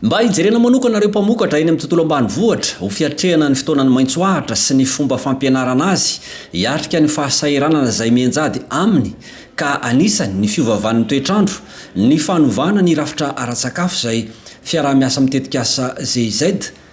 Mba hijerena manokana ireo mpamokatra eny amin'ny tontolo ambanivohitra ho fiatrehana ny fotoanan'ny maitso ahitra sy ny fomba fampianarana azy hiatrika ny fahasahiranana izay mianjady aminy ka anisany ny fiovavan'ny toetr'andro, ny fanovana ny rafitra ara-tsakafo izay fiaraha-miasa amin'ny tetikasa GIZ.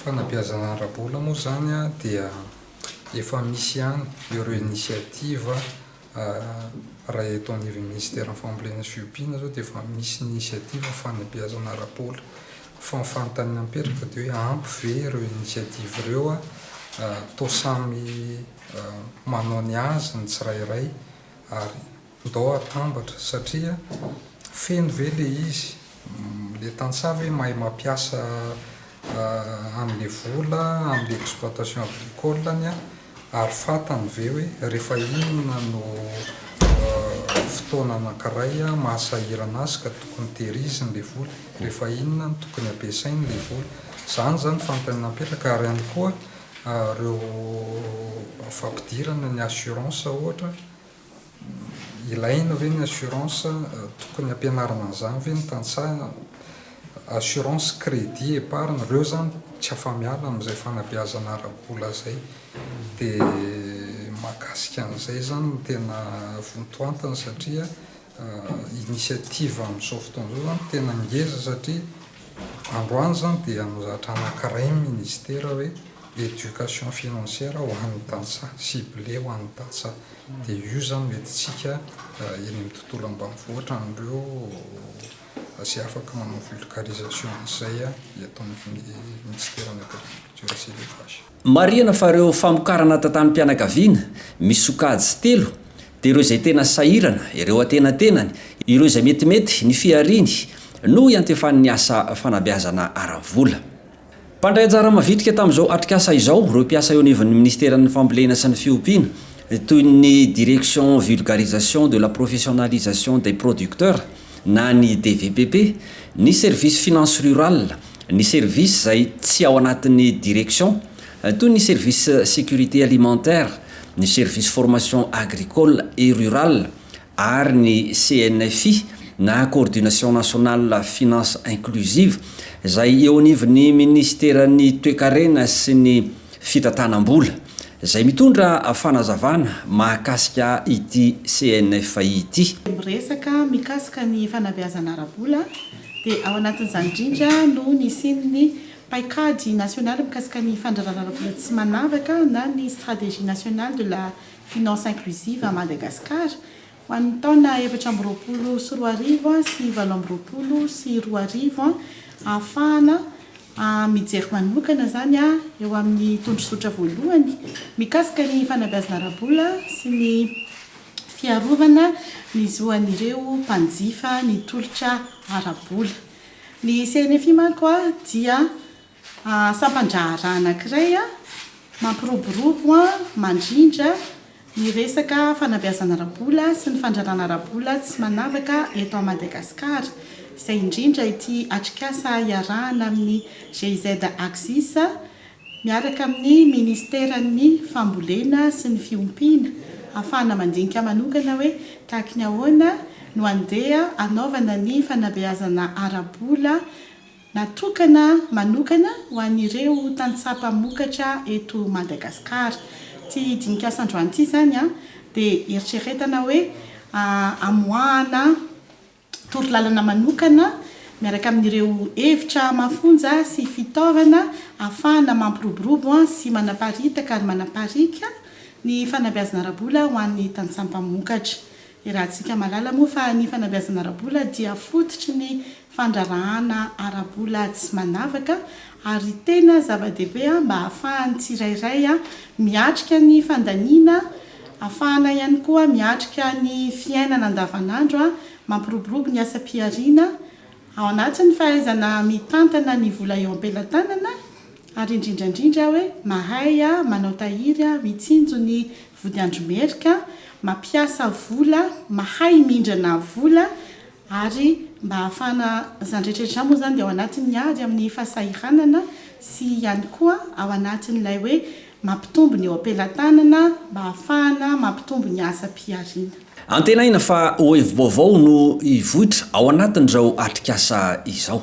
Fanabeazana ara-bola moa izany dia efa misy ihany ireo initiative raha eto anivon'ny Minisiteran'ny Fambolena sy Fiompiana izao dia efa misy ny initiative fanabeazana ara-bola fa ny fanontaniana mipetraka dia hoe ampy ve ireo initiative ireo toa samy manao ny azy ny tsirairay ary Ndao atambatra satria feno ve le izy? Le tantsaha ve mahay mampiasa anle vola amle exploitation agricole-ny an? Ary fatany ve hoe refa inona no fotoana anankiray mahasahirana azy ka tokony tehiriziny le vola? Refa inona no tokony ampiasainy le vola? Zany zany fanontaniana napetraka ary ihany koa reo fampidirana ny assurance ohatra Ilaina ve ny assurance? Tokony ampianarina an'izany ve ny tantsaha? Assurance, crédit, épargne, ireo izany tsy afa-miala amin'izay fanabeazana ara-bola izay. Dia mahakasika an'izay izany no tena vontoantiny satria initiative amin'izao fotoana izao izany tena ngeza satria androany izany dia nozatra anankiray ny ministera hoe éducation financière ho an'ny tantsaha, ciblé ho an'ny tantsaha. Dia io izany no entintsika eny amin'ny tontolo ambanivohitra an'ireo izay afaka manao vulgarisation an'izay eto amin'ny Ministeran'ny Agriculture sy Elevage. Marihana fa ireo famokarana tantanim-pianakaviana misy sokajy telo dia ireo izay tena sahirana, ireo antenatenany, ireo izay metimety ny fihariany no iantefan'ny asa fanabeazana ara-vola. Mpandray anjara mavitrika tamin'izao atrikasa izao ireo mpiasa eo anivon'ny Minisiteran'ny Fambolena sy ny Fiompiana toy ny Direction Vulgarisation de la Professionnalisation des Producteurs, na ny DVPP, ny service finance rural, ny service izay tsy ao anatin'ny direction, toy ny service sécurité alimentaire, ny service formation agricole et rural ary ny CNFI na Coordination nationale finance inclusive izay eo anivon'ny Minisiteran'ny Toekarena sy ny fitantanam-bola, izay mitondra fanazavana mahakasika ity CNF ity. Miresaka mikasika ny fanabeazana ara-bola dia ao anatin'izany indrindra no nisian'ny paikady nasionaly mikasika ny fandrarana ara-bola tsy manavaka na ny Stratégie nationale de la finance inclusive à Madagascar Ho an'ny taona efatra amby roapolo sy roa arivo sy valo amby roapolo sy roa arivo, ahafahana mijery manokana izany eo amin'ny tondrozotra voalohany mikasika ny fanabeazana ara-bola sy ny fiarovana ny zo an'ireo mpanjifa ny tolotra ara-bola. Ny CNFI manko dia. Sampan-draharaha anankiray mampiroborobo mandrindra ny resaka fanabeazana ara-bola sy ny fandrarana ara-bola tsy manavaka eto Madagasikara, izay indrindra ity atrikasa iarahana amin'ny GIZ Axis miaraka amin'ny Ministeran'ny Fambolena sy ny Fiompiana, ahafahana mandinika manokana hoe tahaky ny ahoana no andeha anaovana ny fanabeazana ara-bola. Natokana manokana ho an'ireo tantsaha mpamokatra eto Madagasikara. Ity dinika-asa androany ity izany dia eritreretana hoe amoahana torolalana manokana miaraka amin'ireo hevitra mafonja sy fitaovana ahafahana mampiroborobo sy manaparitaka ary manapariaka ny fanabeazana ara-bola ho an'ny tantsaha mpamokatra. Iarahantsika mahalala moa fa ny fanabeazana ara-bola dia fototry ny fandraharahana ara-bola tsy manavaka ary tena zava-dehibe mba hahafahan'ny tsirairay miatrika ny fandaniana, hahafahana ihany koa miatrika ny fiainana andavanandro, mampiroborobo ny asam-pihariana ao anatin'ny fahaizana mitantana ny vola eo am-pelatanana ary indrindra indrindra hoe mahay manao tahiry, mitsinjo ny Vodiandry Merika, mampiasa vola, mahay mindrana vola ary mba hahafahana, izany rehetra rehetra izany moa izany dia ao anatin'ny ady amin'ny fahasahiranana sy ihany koa ao anatin'ilay hoe mampitombo ny eo am-pelatanana mba hahafahana mampitombo ny asam-pihariana. Antenaina fa ho hevi-baovao no hivoitra ao anatin'izao atrikasa izao.